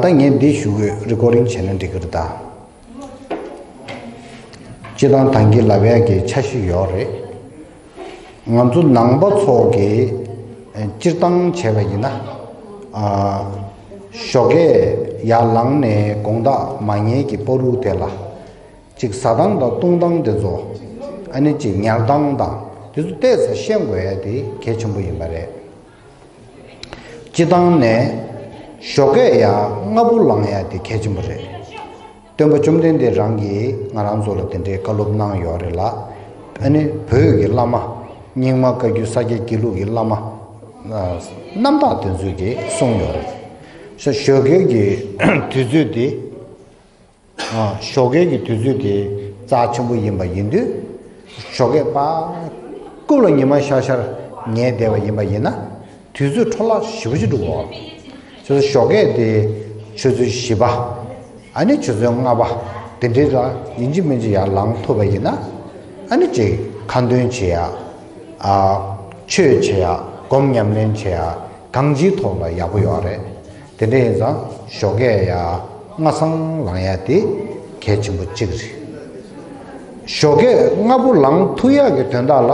ད་ངས་འདི་ཞུ་འོས་རི་ཀོ་རིང་བྱས་ན་འགྲིག་གི་རེད་ད། སྤྱི་བཏང་ཐང་གི་ལབ་ཡག་གི་ཆ་ཞིག་ཡོད་རེད། ང་ཚོ་ནང་པ་ཚོགས་ཀྱི་སྤྱིར་བཏང་བྱས་པ་ཡིན་ན། ཞོགས་ཀས་ཡར་ལངས་ནས་དགོངས་དག་མ་ཉལ་གྱི་སྤོ་ལུགས་དེ་ལ། གཅིག་ཟ་སྟངས་དང་བཏུང་སྟངས་དེ་ཚོ། ཨ་ནི་གཅིག་ཉལ་སྟངས་དང་དེ་ཚོ་བལྟས་ཚེ་ཤེས་དགོས་ཡ་དེ་གལ་ཆེན་པོ་ཡིན་པ་རེད། སྤྱི་བཏང་ནས། ཞོ་ཁས་ཡ་ལྔ་བུ་ལང་ཡ་དེ་གལ་ཆེན་པོ་རེད། སྟོན་པ་བཅོམ་ལྡན་འདས་རང་གིས་ང་རང་ཚོ་ལ་དེ་འདྲའི་བཀའ་སློབ་གནང་ཡོད་རེད་ལ། ཨ་ནི་བོད་ཀྱི་བླ་མ། རྙིང་མ་བཀའ་བརྒྱུད་ས་སྐྱ་དགེ་ལུགས་ཀྱི་བླ་མ། རྣམ་དག་དེ་ཚོས་དེ་གསུངས་ཡོད་རེད། ཞོ་ཁས་ཀྱི་དུས་ཚོད་དེ། ཞོགས་ཀའི་གི་དུས་ཚོད་དེ་རྩ་ཆེན་པོ་ཡིན་པ་ཡིན་དུས། ཞོགས་ཀའི་པ་ཀུ་ལ་ཉི་མ་ཤར་ཤར་ཉལ་བསྡད་པ་ཡིན་པ་ཡིན་ན། དུས་ཚོད་འཕྲོ་བརླག་ཞི་བ་ཞིག་འགྲོ་དགོས། ཁྱོད་ཚོ་ཞོགས་ཀའི་དེ་ཆུ་ཚོད་བཞི་པ། ཨ་ནི་ཆུ་ཚོད་ལྔ་པ་དེ་འདྲའི་ལ་ཡིན་གཅིག་མིན་གཅིག་ཡར་ལངས་ཐུབ་པ་ཡིན་ན། ཨ་ནི་ཅིག་ཁ་འདོན་བྱེད་ཡ། ཆོས་བྱེད་ཡ་སྒོམ་ཉམས་ལེན་བྱེད་ཡ་གང་ཅིའི་ཐོག་ལ་ཡག་པོ་ཡོད་རེད། དེ་འདྲ་ཡིན་ཙང་ཞོགས་ཀས་ཡ་ང་ཚང་ལང་ཡ་དེ་གལ་ཆེན་པོ་གཅིག་རེད། ཞོགས་ཀས་ང་བུ་ལང་ཐུག་ཡ་གི་དོན་དག་ལ་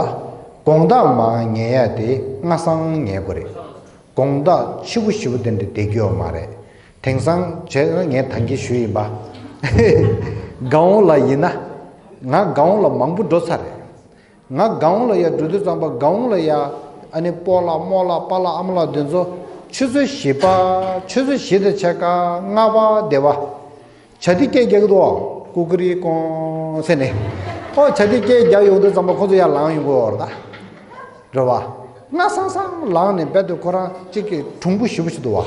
དགོངས་དག་མ་ངེས་ཡ་དེ་ང་ཚང་ངེས་པོ་རེད། དགོངས་དག་ཆི་བུ་ཞི་བུ་དེ་འདྲ་བསྡད་རྒྱུ་ཡོད་མ་རེད། དེང་སང་བྱས་ན་ངས་དང་གི་ཞུ་ཡིན་པ། ཧེ་ཧེ། གའུ་ལ་ཡིན་ན། ང་གའུ་ལ་མང་པོ་འགྲོ་ཚར་རེད། ང་དགའ་འོང་ལ་ཡ་འབྲུ་བདུད་རྩམ་པ་དགའ་འོང་ལ་ཡ། ཨ་ནི་སྤོ་ལ་རྨོ་ལ་སྤ་ལ་ཨ་མ་ལགས་འདི་ཚོ། ཆུ་ཚོད་བཞི་པ། ཆུ་ཚོད་བཞི་དང་ཕྱེད་ཀ་ལྔ་པ་སྡེ་བ། བྱ་ཏི་སྐད་རྒྱག་གི་འདུག་ཨོ། ཀུ་ཀུ་རི་ཀོང་ཟེར་ནས། ཨོ་བྱ་ཏི་སྐད་རྒྱག་ཡོང་འདུག་ཙམ་པོ་ཁོ་ཚོ་ཡར་ལངས་ཡོང་གི་འོར་ད། རེད་བ། སྔ་སང་སང་ལངས་ནས་རྦད་དེ་ཁོ་རང་གཅིག་གི་གྲུང་པོ་ཞིག་པོ་ཞིག་འདུག་བ།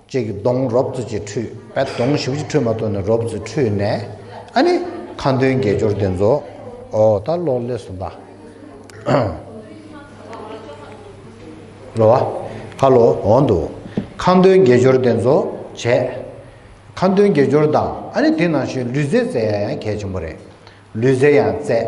ཅེས་ཀྱི་གདོང་རོབ་ཙུ་ཅེས་ཁྲུས་པས་གདོང་བཞི་བཅུ་ཁྲུས་མ་ཐོགས་ནས་རོབ་ཙུས་ཁྲུས་ནས་ཨ་ནི་ཁ་འདོན་དགེ་སྦྱོར་འདི་རྫོགས། ཨོ་ད་ལོ་ལས་གསུམ་པ། ལོ་བ། ཁ་ལོ་འོང་དུ། ཁ་འདོན་དགེ་སྦྱོར་འདི་རྫོགས་བྱས། ཁ་འདོན་དགེ་སྦྱོར་དང་ཨ་ནི་དེ་ནང་བཞིན་ལུས་རྫས་བཙལ་ཡང་གལ་ཆེན་པོ་རེད། ལུས་རྫས་ཡང་བཙལ།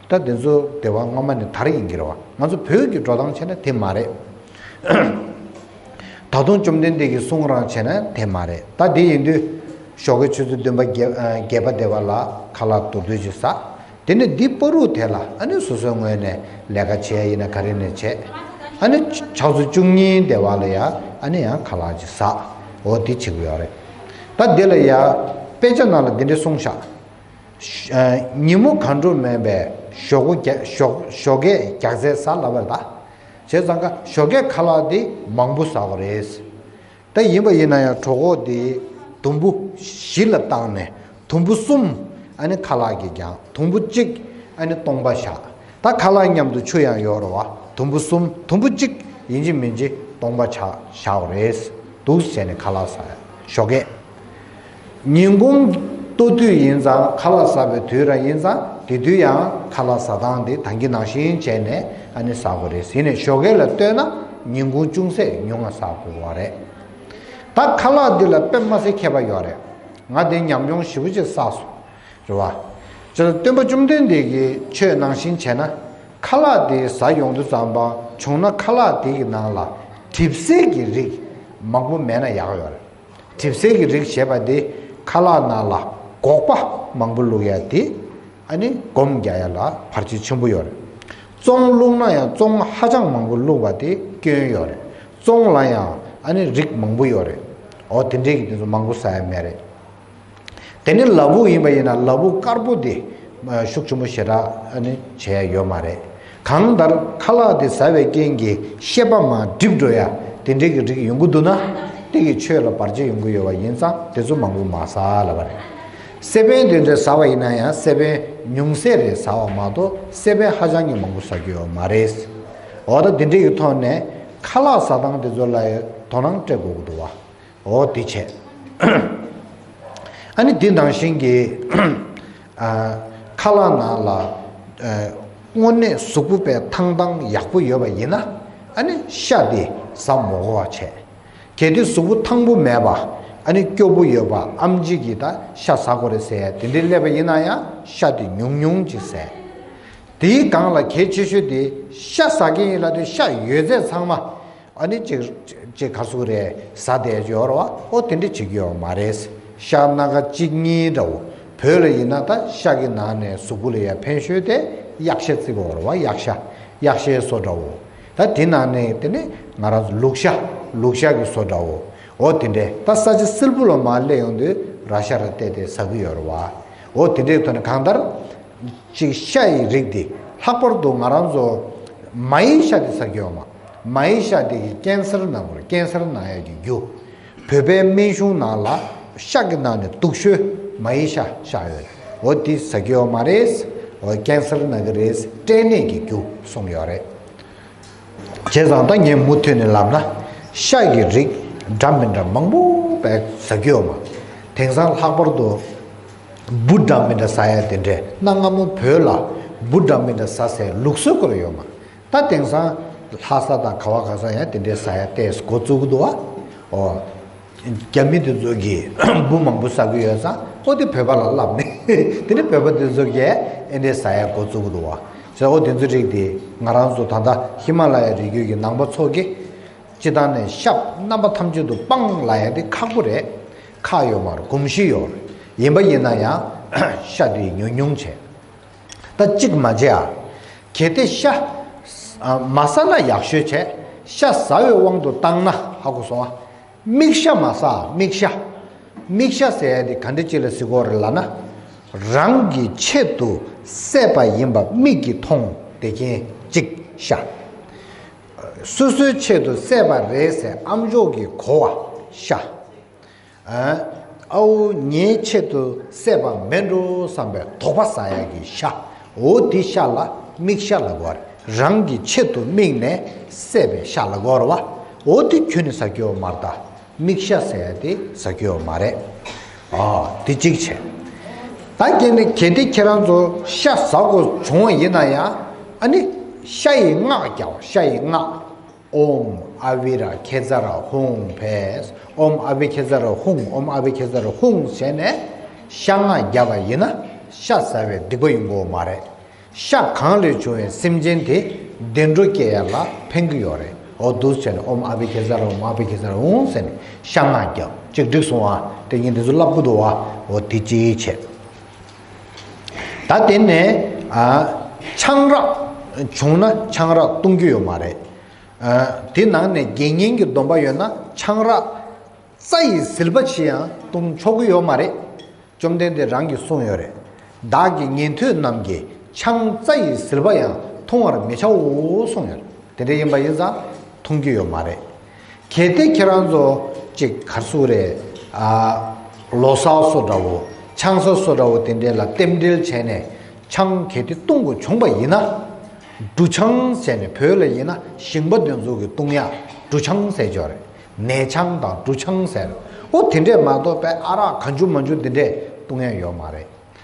ད་དེ་ཚོ་སྡེ་བ་སྔ་མ་ནི་དར་ཡིན་གྱི་རེད་བ། ང་ཚོ་བོད་ཀྱི་འགྲོ་སྟངས་བྱས་ན་དེ་མ་རེད། ད་དུང་བཅོམ་ལྡན་འདས་ཀྱི་གསུང་རང་བྱས་ན་དེ་མ་རེད། ད་དེ་ཡིན་དུས། ཞོགས་ཀྱི་ཆུ་ཚོད་བདུན་པ་བརྒྱད་པ་སྡེ་བ་ལ་ཁ་ལག་དུར་དུར་གྱིས་ཟ། དེ་ནས་འདི་སྤོ་རུག་དེ་ལ་ཨ་ནི་སོ་སོའི་ངོས་ནས་ལས་ཀ་བྱེད་ཡ་ཡིན་ན་ག་རེ་ནས་བྱེད། ཨ་ནི་ཕྱག་ཚོད་བཅུ་གཉིས་སྡེ་བ་ལ་ཡ་ཨ་ནི་ཡང་ཁ་ལག་གྱིས་ཟ། འོ་དེ་བྱེད་གི་ཡོག་རེད། ད་དེ་ལ་ཡ། དཔེ་ཆ་ནང་ལ་དེ་འདྲས་གསུངས་ཤག། ཉིན་མོ་གང་འགྲོ་མེད་པའི་ཞོགས་གོ་རྒྱ། ཞོགས་གས་རྒྱགས་རྩལ་བཟའ་སླ་བ་ལ། བྱས་ཙང་ཀ་ཞོགས་གས་ཁ་ལག་དེ་མང་པོ་ཟ་བ་རེད། ད་ཡིན་པ་ཡིན་ན་ཡང་གྲོགས་འགོ་དེ་དུམ་བུ་བཞི་ལ་བཏང་ནས་དུམ་བུ་གསུམ་ཨ་ནི་ཁ་ལག་གིས་རྒྱང་དུམ་བུ་གཅིག་ཨ་ནི་སྟོང་པ་བཞག་ད་ཁ་ལག་མཉམ་དུ་ཆུ་ཡང་ཡོར་བ་དུམ་བུ་གསུམ་དུམ་བུ་གཅིག་ཡིན་གྱི་མིན་གྱི་སྟོང་པ་བཞག་བཞག་རེད་འདུག་བྱས་ནས་ཁ་ལག་ཟ་ཞོགས་གས། ཉིན་གུང་སྟོད་དུས་ཡིན་ཙང་ཁ་ལག་ཟ་བའི་དུས་རང་ཡིན་ཙང་དེ་དུས་ཡང་ཁ་ལག་ཟ་སྟངས་དེ་དང་གི་ནང་བཞིན་བྱས་ནས་ཨ་ནི་ཟ་དགོས་རེད་ཟེར་ནས་ཞོ་གས་ལ་ལྟོས་ན་ཉིན་གུང་ཅུང་ཟད་ཉུང་ང་ཟ་དགོས་བ་རེད། ད་ཁ་ལག་འདི་ལ་དཔེ་དམའ་སའི་ཁྱད་པ་ཡོད་རེད། ང་དེ་ཉམས་མྱོང་ཞིབ་པོ་བྱེད་ས་སོ། རེད་བ། ཇི་ལ་སྟོན་པ་བཅོམ་ལྡན་འདས་ཀྱིས་ཆོས་ནང་བཞིན་བྱས་ན་ཁ་ལག་དེ་ཟ་ཡོང་དུ་ཙམ་པ་བྱུང་ན་ཁ་ལག་དེ་གི་ནང་ལ་གྲིབ་སེལ་གྱི་རིགས་མང་པོ་མེད་ན་ཡག་ཡོད་རེད། གྲིབ་སེལ་གྱི་རིགས་ཞེས་པ་འདི་ཁ་ལག་ནང་ལ་སྒོག་པ་མང་པོ་བླུགས་ཡ་དེ་ཨ་ནི་སྒོམ་རྒྱག་ཡ་ལ་བར་ཆད་ཆེན་པོ་ཡོད་རེད། ཙོང་བླུགས་ན་ཡང་ཙོང་ཧ་ཅང་མང་པོ་བླུགས་པ་དེ་སྐྱོན་ཡོད་རེད། ཙོང་ལ་ཡང་ཨ་ནི་རིགས་མང་པོ་ཡོད་རེད། འོ་དེ་འདྲས་ཀྱི་དེ་ཚོ་མང་པོ་ཟ་ཡ་མེད་རེད། དེ་ནི་ལ་བུག་ཡིན་པ་ཡིན་ན་ལ་བུག་དཀར་པོ་དེ་ཤུགས་ཆེན་པོ་ཞེ་དྲགས་ནི་བྱས་ཡོད་མ་རེད། གང་ལྟར་ཁ་ལག་དེ་ཟ་བའི་རྐྱེན་གྱིས་ཤེས་པ་མ་བསྒྲིབས་འགྲོ་ཡ་དེ་འདྲའི་གི་རིགས་ཡོང་གི་འདུག་ན་དེ་གི་ཆོས་ལ་བར་ཆད་ཡོང་གི་ཡོད་བ་ཡིན་ཙང་དེ་ཚོ་མང་པོ་མ་ཟ་ལ་བ་རེད། སེ་པན་དེ་འདྲའི་ཟ་བ་ཡིན་ན་ཡང་སེ་པན་ཉུང་ཟད་རེ་ཟ་བ་མ་གཏོགས་སེ་པན་ཧ་ཅང་གི་མང་པོ་ཟ་རྒྱུ་ཡོད་མ་རེད། འོ་ད་དེ་འདྲའི་གི་ཐོག་ནས་ཁ་ལག་ཟ་སྟངས་དེ་ཚོ་ལ་དོ་སྣང་སྤྲད་དགོས་གི་འདུག་བ། འོ་དེ་བྱས། ཨཱ་ནི་དེ་ནང་བཞིན་གྱི། ཁ་ལག་ནང་ལ། སྔོ་ནད་གཟུགས་པོ་པའི་ཐང་ཐང་ཡག་པོ་ཡོད་པ་ཡིན་ན། ཨཱ་ནི་ཤ་དེ་ཟ་མོ་གོ་བ་བྱས། གལ་ཏེ་གཟུགས་པོ་ཐང་པོ་མེད་པ། ཨཱ་ནི་སྐྱོ་པོ་ཡོད་པ་ཨམ་གཅིག་གིས་ད་ཤ་ཟ་གོ་རེ་ཟེར་དེ་འདྲའི་སླེབས་པ་ཡིན་ན་ཡང་ཤ་དེ་ཉུང་ཉུང་ཅིག་ཟས། དེའི་སྒང་ལ་གལ་ཆེ་ཤོས་དེ་ཤ་ཟ་མཁན་ཡིན་ལ་དེ་ཤ་ཡོད་ཚད་ཚང་མ། ཨ་ནི་ཅིག། ཅེས་ཁ་སུག་རེ་ཟ་བསྡད་ཡོད་ར་བ་ཨོ་དེ་འདྲ་བྱེད་ཀྱི་ཡོད་མ་རེད། ཤ་སྣ་ཁ་གཅིག་གཉིས་འདྲ་བོ་བོས་ལ་ཡིན་ན་ད་ཤ་གི་ནང་ནས་གཟུགས་པོ་ལ་ཡ་ཕན་ཤོས་དེ་གཡག་ཤ་བརྩི་དགོས་ར་བ་གཡག་ཤ་གཡག་ཤའི་བཟོ་འདྲ་བོ། ད་དེ་ནང་ནས་དེ་ནི་ང་རང་ཚོ་ལུག་ཤ་ལུག་ཤ་གི་བཟོ་འདྲ་བོ་ཨོ་དེ་འདྲས་ད་ས་ཆ་སིལ་བུ་ལ་མ་སླེབས་ཡོང་དུས་ར་ཤ་ར་བལྟས་དེ་ཟ་གི་ཡོད་ར་བ་ཨོ་དེ་འདྲས་ཐོན་ན་གང་ལྟར། ཅིག་ཤ་ཡི་རིགས་འདི་ལྷག་པར་དུ་ང་རང་ཚོ་མ་ཡི་ཤ་དེ་ཟ་གི་ཡོད་མ། མ་ཡི་ཤ་འདེད་ཀྱི་ཀན་སར་ནག་པོར་ཀན་སར་ནག་ཡལ་གྱི་རྒྱུ། བོད་པའི་སྨན་གཞུང་ནང་ལ་ཤ་གི་ནང་ནས་དུག་ཤོས་མ་ཡི་ཤ་བཞག་ཡོད་རེད་འོ་དེ་ཟ་གི་ཡོད་མ་རེད། འོ་ཀན་སར་ནག་གི་རེད་སྐྲན་ནད་ཀྱི་རྒྱུ་གསུངས་ཡོད་རེད། བྱས་ཙང་ད་ངས་མུ་མཐུད་ནས་ལབ་ན་ཤ་གི་རིགས་འདྲ་མི་འདྲ་མང་པོ་བས་ཟ་གི་ཡོད་མ་དེང་སང་ལྷག་པར་དུ་འབུ་འདྲ་མི་འདྲ་ཟ་ཡ་དེ་འདྲས་གནའ་སྔ་མོ་བོད་ལ་འབུ་འདྲ་མི་འདྲ་ཟ་སའི་ལུགས་སྲོལ་བསྐོར་ཡོད་མ། ད་དེང་སང། ལྷ་ས་དང་ག་བ་ག་ས་ཡང་དེ་འདྲའི་ས་ཡ་གཏད་སྒོ་བཙུགས་གི་འདུག་བ། འོ། རྒྱ་མི་དེ་ཚོ་གིས་འབུ་མང་པོ་ཟ་གི་ཡོད་ས་ཨོ་དེ་བོད་པ་ལ་བསླབས་ནས། དེ་ནས་བོད་པ་དེ་ཚོ་གས་ཨེ་འདྲའི་ས་ཡ་སྒོ་བཙུགས་གི་འདུག་བ། ཟེར་ཨོ་དེ་ཚོའི་རིགས་དེ་ང་རང་ཚོ་ད་ལྟ་ཧི་མ་ལ་ཡ་རི་རྒྱུད་ཀྱི་ནང་པ་ཚོ་གིས། སྤྱི་ཐང་ནས་ཤབ་རྣམ་པ་ཐམས་ཅད་དུ་སྤང་ལ་ཡ་དེ་ཁག་པོ་རེད། ཁག་ཡོད་མར་གུམ་བཞི་ཡོད་རེད། ཡིན་པ་ཡིན་ན་ཡང། ཤ་དེ་ཉུང་ཉུང་བྱས། ད་ཅིག་མ་བྱེད་ཨ། གལ་ཏེ་ཤ། མ་ཟ་ན་ཡག་ཤོས་བྱས། ཤ་ཟ་བའི་དབང་དུ་བཏང་ན་ཧ་གོ་སོང་ཨ། མིག་ཤ་མ་ཟ་ཨ་མིག་ཤ། མིག་ཤ་ཟས་དེ་ག་འདྲི་ཅི་ལ་ཟི་གོ་རེ་ལ་ན། རང་གི་ཆེད་དུ་བསད་པ་ཡིན་པ་མིག་གིས་མཐོང་བདེ་གྱིན་ཅིག་ཤ། སོ་སོའི་ཆེད་དུ་བསད་པ་རེད་ཟེར་ཨམ་ཅོག་གིས་གོ་བ་ཤ། ཨ་ཨོ་ཉའི་ཆེད་དུ་བསད་པ་མེད་འགྲོ་བསམ་པའི་དོགས་པ་ཟ་ཡ་གི་ཤ་འོ་དེ་ཤ་ལ་དམིགས་ཤ་ལ་གོར་རང་གི་ཆེད་དུ་དམིགས་ནས་བསད་པའི་ཤ་ལ་གོར་བ་འོ་དེ་ཁྱོད་ནི་ཟ་ཁྱི་འོ་མར་ད་དམིགས་ཤ་ཟེར་ཡ་དེ་ཟ་ཁྱི་འོ་མ་རེད་ཨ་དེ་གཅིག་བྱས། ད་གལ་ནི་གལ་ཏེ་ཁྱེད་རང་ཚོ་ཤ་ཟ་དགོས་བྱུང་བ་ཡིན་ན་ཡང་ཨ་ནི་ཤ་ཡི་སྔགས་རྒྱག་བ་ཤ་ཡི་སྔགས་ཨོམ་ཨ་བྷི་ར་ཁེ་ཛ་ར་ཧུང་བྷེས་ཨོམ་ཨ་བྷི་ཁེ་ཛ་ར་ཧུང་ཨོམ་ཨ་བྷི་ཁེ་ཛ་ར་ཧུང་ཟེར་ནས་ཤ་ངག་བརྒྱབ་པ་ཡིན་ན་ཤ་ཟ་བའི་སྡིག་པ་ཡོང་གི་མ་རེད། ཤ་གང་ལས་བྱུང་བའི་སེམས་ཅན་དེ་བདེ་འགྲོ་སྐྱེ་ཡ་ལ་ཕན་གི་ཡོད་རེད་འོ་དུས་ཟེར་ནས་ཨོམ་ཨ་བྷི་ཁེ་ཛ་ར་ཧུང་ཨོམ་ཨ་བྷི་ཁེ་ཛ་ར་ཧུང་ཟེར་ནས་ཤ་ངག་བརྒྱབ་གཅིག་འགྲིག་སོང་བ་དེ་གཉིས་འདི་ཚོ་བསླབ་དགོས་འདུག་བ་འོ་དེ་ཅིའི་ཆེད། ད་དེ་ནས་ཆང་རག་བྱུང་ན་ཆང་རག་བཏུང་རྒྱུ་ཡོད་མ་རེད། དེ་ནང་ནས་དགེ་བསྙེན་གྱི་སྡོམ་པ་ཡོད་ན་ཆང་རག་རྩ་ཡི་ཟིལ་པ་བྱིས་ཡང་བཏུང་ཆོག་གི་ཡོད་མ་རེད། བཅོམ་ལྡན་འདས་རང་གིས་གསུངས་ཡོད་རེད། བདག་གི་ཉན་ཐོས་རྣམས་ཀྱིས་ཆང་རྩ་ཡི་ཟིལ་པ་ཡང་འཐུང་བར་མི་བྱའོ་གསུངས་ཡོད། དེ་འདྲ་ཡིན་པ་ཡིན་ཙང་འཐུང་རྒྱུ་ཡོད་མ་རེད། གལ་ཏེ་ཁྱེད་རང་ཚོ་ཅིག་གར་སུ་རེད་ཨ། ལོ་ས་སོ་འདྲ་བོ་ཆང་ས་སོ་འདྲ་བོ་དེ་འདྲེ་ལ་རྟེན་འབྲེལ་བྱས་ནས་ཆང་གལ་ཏེ་བཏུང་དགོས་བྱུང་པ་ཡིན་ན། འབྲུ་ཆང་ཟེར་ནས་བོད་ལ་ཡིན་ན་ཞིང་པ་འདོན་ཟོ་གི་བཏུང་ཡག་འབྲུ་ཆང་ཟེར་ཆོག་རེད་ནས་ཆང་དང་འབྲུ་ཆང་ཟེར་ཨོ་དེ་འདྲེ་མ་གཏོགས་པའི་ཨ་རག་ག་འཇུ་མ་འཇུ་དེ་འདྲེ་བཏུང་ཡག་ཡོད་མ་རེད་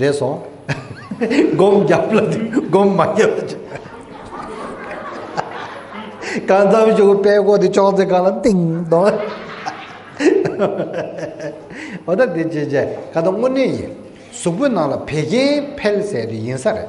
རེད་སོང། སྒོམ་བརྒྱབ་ལ་སྒོམ་མ་བརྒྱབ་ལ་ཅི། གང་འཚམ་བྱུང་པའི་དཔེ་གོ་དེ་ཅོག་ཙེ་གང་ལ་ཏིང་དོང། འོ་ད་དེ་བྱས་བྱས་ད་ལྟ་དངོས་གནས་ཡིན། གཟུགས་པོའི་ནང་ལ་བད་ཀན་འཕེལ་ཟེར་དེ་ཡིན་ས་རེད།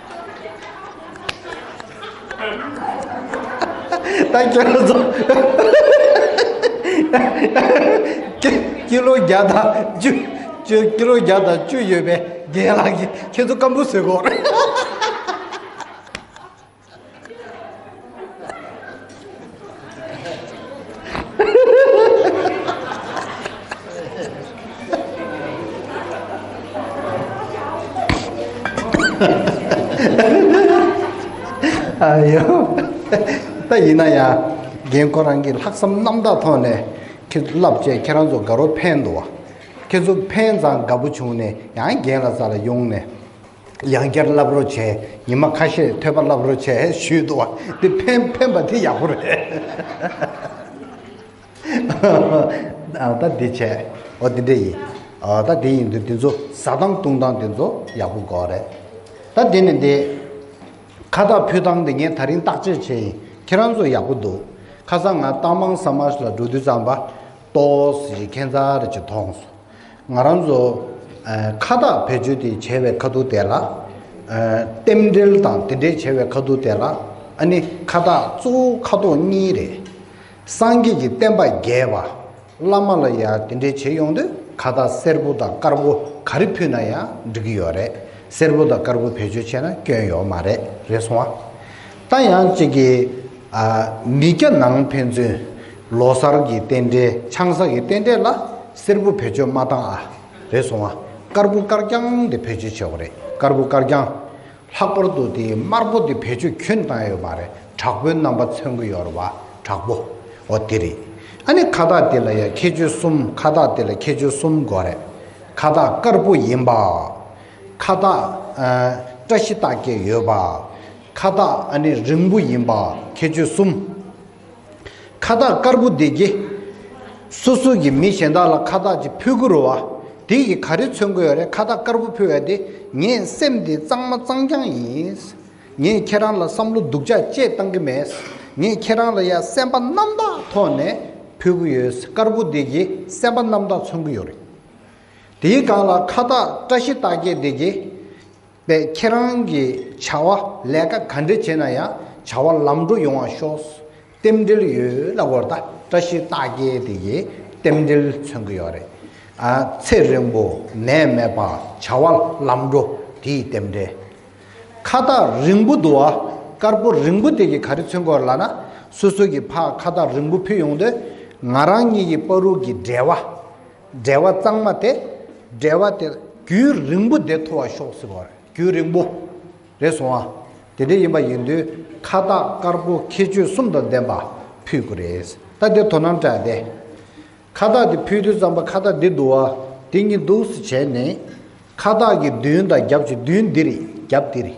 ད་ཁྱོད་རང་ཚོ་ཀི་ལོ་བརྒྱ་དང་བཅུ་བཅུ་ཀི་ལོ་བརྒྱ་དང་བཅུ་ཡོད་པའི་རྒན་ལགས་ཀྱིས་ཁྱེད་ཚོ་སྐམ་པོ་བཟོས་གོ་ཨ་ཡོ་ད་ཡིན་ན་ཡ་རྒན་ཁོ་རང་གི་ལྷག་བསམ་རྣམ་དག་ཐོག་ནས་ཁྱེད་ཚོ་བསླབ་བྱས་ཁྱེད་རང་ཚོ་དགའ་རོགས་ཕན་འདོགས་ཁྱེད་ཚོ་ཕན་ཙང་དགའ་པོ་བྱུང་ནས་ཡང་རྒན་ལ་ཙ་ལ་ཡོང་ནས་ཡང་བསྐྱར་བསླབ་རོགས་བྱས་ཉི་མ་ཁ་ཤས་ཐོས་པ་བསླབ་རོགས་བྱས་ཞུས་འདུག་བ་འདི་ཕན་ཕན་པ་དེ་ཡག་པོ་རེད་ད་འདི་བྱས་འོ་འདི་འདྲ་ཡིན་འོ་ད་འདི་ཡིན་འདུག་འདི་ཚོ་ཟ་སྟངས་བཏུང་སྟངས་འདི་ཚོ་ཡག་པོ་འགོག་རེད་ད་འདི་ནི་འདི་ཁ་བཏགས་ཕུལ་སྟངས་འདི་ངས་ད་རིང་བརྟག་དཔྱད་བྱས་ཡིན་ཁྱེད་རང་ཚོ་ཡག་པོ་འདུག་ཁ་སང་ང་རྟ་མང་ས་མ་ལ་འགྲོ་དུས་ཙམ་པ་ཏོའོ་སི་ཀྱི་ཁན་ཚ་རེད་ཅིག་མཐོང་སོང་ང་རང་ཚོ་ཁ་བཏགས་བེད་སྤྱོད་དེ་བྱས་པའི་ཁ་ཐུག་དེ་ལ་རྟེན་འབྲེལ་དང་དེ་འདྲའི་བྱས་པའི་ཁ་ཐུག་དེ་ལ་ཨ་ནི་ཁ་བཏགས་གཙོ་བོ་ཁ་དོག་གཉིས་རེད། སངས་རྒྱས་ཀྱི་བསྟན་པ་རྒྱས་པ། བླ་མ་ལ་ཡང་དེ་འདྲའི་བྱེད་ཡོང་དུས་ཁ་བཏགས་སེར་པོ་དང་དཀར་པོ་ག་རེ་ཕུལ་ན་ཡང་འགྲིག་གི་ཡོད་རེད། སེར་པོ་དང་དཀར་པོ་བེད་སྤྱོད་བྱས་ན་སྐྱོན་ཡོད་མ་རེད་རེད་སོང་བ། རྟ་ཡང་གཅིག་གིས། མི་སྐྱ་ནང་ཕན་ཚུན། ལོ་སར་གྱི་རྟེན་འབྲེལ་ཆང་ས་གི་རྟེན་འབྲེལ་ལ། སེར་བུ་བེད་སྤྱོད་མ་བཏང་ཨ། རེད་སོང་ཨ། དཀར་བུ་དཀར་རྐྱང་དེ་བེད་སྤྱོད་བྱས་བ་རེད་དཀར་བུ་དཀར་རྐྱང། ལྷག་པར་དུ་དེའི་དམར་པོ་དེ་བེད་སྤྱོད་ཁྱོད་བཏང་ཡོད་མ་རེད་དྲག་པོའི་རྣམ་པ་མཚོན་གི་ཡོད་རེད་བ་དྲག་པོ། འོ་དེ་རེད། ཨ་ནི་ཁ་བཏགས་དེ་ལ་ཡང་ཁྱད་ཆོས་གསུམ་ཁ་བཏགས་དེ་ལ་ཁྱད་ཆོས་གསུམ་དགོས་རེད། ཁ་བཏགས་དཀར་པོ་ཡིན་པ། ཁ་བཏགས། བཀྲ་ཤིས་རྟགས་བརྒྱད་ཡོད་པ། ཁ་བཏགས་ཨ་ནེ་རིང་པོ་ཡིན་པ་ཁྱད་ཆོས་གསུམ། ཁ་བཏགས་དཀར་པོ་བདེ་སྐྱིད། སོ་སོ་གྱི་མི་གཞན་དག་ལ་ཁ་བཏགས་ཅིག་ཕུལ་དགོས་རུ་བ། དེ་ཡིས་ག་རེ་མཚོན་དགོས་ཡོད་རེད་ཁ་བཏགས་དཀར་པོ་ཕུལ་བས་དེ་ངས་སེམས་དེ་གཙང་མ་གཙང་རྐྱང་ཡིན། ངས་ཁྱེད་རང་ལ་བསམ་བློ་སྡུག་ཅག་ཅེས་བཏང་གི་མེད། ངས་ཁྱེད་རང་ལ་ཡ་སེམས་པ་རྣམ་དག་ཐོག་ནས་ཕུལ་གི་ཡོད་དཀར་པོ་བདེ་སྐྱིད་སེམས་པ་རྣམ་དག་མཚོན་གི་ཡོད་རེད། དེའི་སྒང་ལ་ཁ་བཏགས་བཀྲ་ཤིས་རྟགས་བརྒྱད་བདེ་སྐྱིད། པས་ཁྱེད་རང་གི་བྱ་བ་ལས་ཀ་ག་འདྲི་བྱེད་ན་ཡང་བྱ་བ་ལམ་འགྲོ་ཡོང་བ་ཤོག་རྟེན་འབྲེལ་ཡོད་ལ་དགོར་ད་བཀྲ་ཤིས་རྟགས་བརྒྱད་དེ་ཡིས་རྟེན་འབྲེལ་མཚོན་གི་ཡོད་རེད་ཨ་ཚེ་རིང་པོ་ནད་མེད་པ་བྱ་བ་ལམ་འགྲོ་དེ་ཡི་རྟེན་འབྲེལ་ཁ་རྟགས་རིང་པོ་འདུག་ཨ་དཀར་པོ་རིང་པོ་དེ་གི་ག་རེ་མཚོན་གི་ཡོད་ལ་ན་སོ་སོ་གི་ཕ་ཁ་རྟགས་རིང་པོ་ཕུལ་ཡོང་དུས་ང་རང་གཉིས་ཀྱི་པ་རུག་གི་འབྲེལ་བ་འབྲེལ་བ་གཙང་མ་དེ་འབྲེལ་བ་དེ་རྒྱུན་རིང་པོ་བདེ་ཐོ་བ་ཤོག་ཟེར་བ་རེད་རྒྱུན་རིང་པོ་རེད་སོང་བ་དེ་འདྲ་ཡིན་པ་ཡིན་དུས་ཁ་བཏགས་དཀར་པོ་ཁྱད་ཆོས་གསུམ་དང་ལྡན་པ་ཕུལ་དགོས་རེད་ད་དེ་དོ་སྣང་དྲགས་ཏེ་ཁ་བཏགས་དེ་ཕུལ་དུས་རྩམ་པ་ཁ་བཏགས་འདི་འདུག་བ་འདི་གཉིས་འདུག་བྱས་ནས་ཁ་བཏགས་ཀྱི་མདུན་དང་རྒྱབ་ཀྱི་མདུན་འདི་རེད་རྒྱབ་འདི་རེད་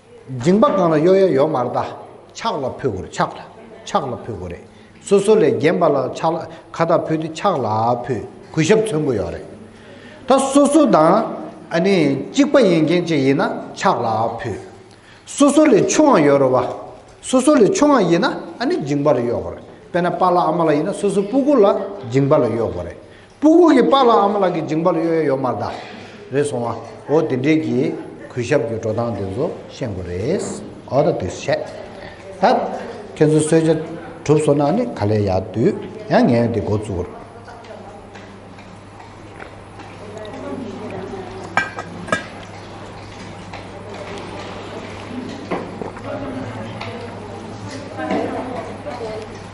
མགྲིན་པ་གང་ལ་གཡོ་ཡ་ཡོད་མ་རེད་ད། ཕྱག་ལ་ཕུལ་དགོས་རེད་ཕྱག་ལ། ཕྱག་ལ་ཕུལ་དགོས་རེད། སོ་སོ་ལས་རྒན་པ་ལ་ཕྱག་ལ་ཁ་བཏགས་ཕུལ་ཏེ་ཕྱག་ལ་ཕུལ་གུས་ཞབས་མཚོན་དགོས་ཡོད་རེད། ད་སོ་སོ་དང་ཨ་ནི་གཅིག་པ་ཡིན་མཁན་ཅིག་ཡིན་ན་ཕྱག་ལ་ཕུལ། སོ་སོ་ལས་ཆུང་བ་ཡོད་རེད་བ། སོ་སོ་ལས་ཆུང་བ་ཡིན་ན་ཨ་ནི་མགྲིན་པ་ལ་གཡོ་དགོས་རེད་དཔེར་ན་པ་ལ་ཨ་མ་ལ་ཡིན་ན་སོ་སོའི་སྤུ་གུ་ལ་མགྲིན་པ་ལ་གཡོ་དགོས་རེད། སྤུ་གུག་གི་པགས་ལ་ཨ་མ་ལགས་ཀྱི་འཇིང་པ་ལ་གཡོ་ཡ་ཡོད་མ་གདའ། རེད་སོང་ཨ། འོ་དེ་འདྲའི་གི་གུས་ཞབས་ཀྱི་འགྲོ་སྟངས་དེ་ཚོ་ཤེས་དགོས་རེད། འོ་ད་དུས་ཤེས། ད། ཁྱེད་ཚོ་གསོལ་ཇ་གྲུབ་སོང་ན་ནི་ག་ལེ་ཡག་དུས་ཡང་ངས་འདི་འགོ་བཙུགས།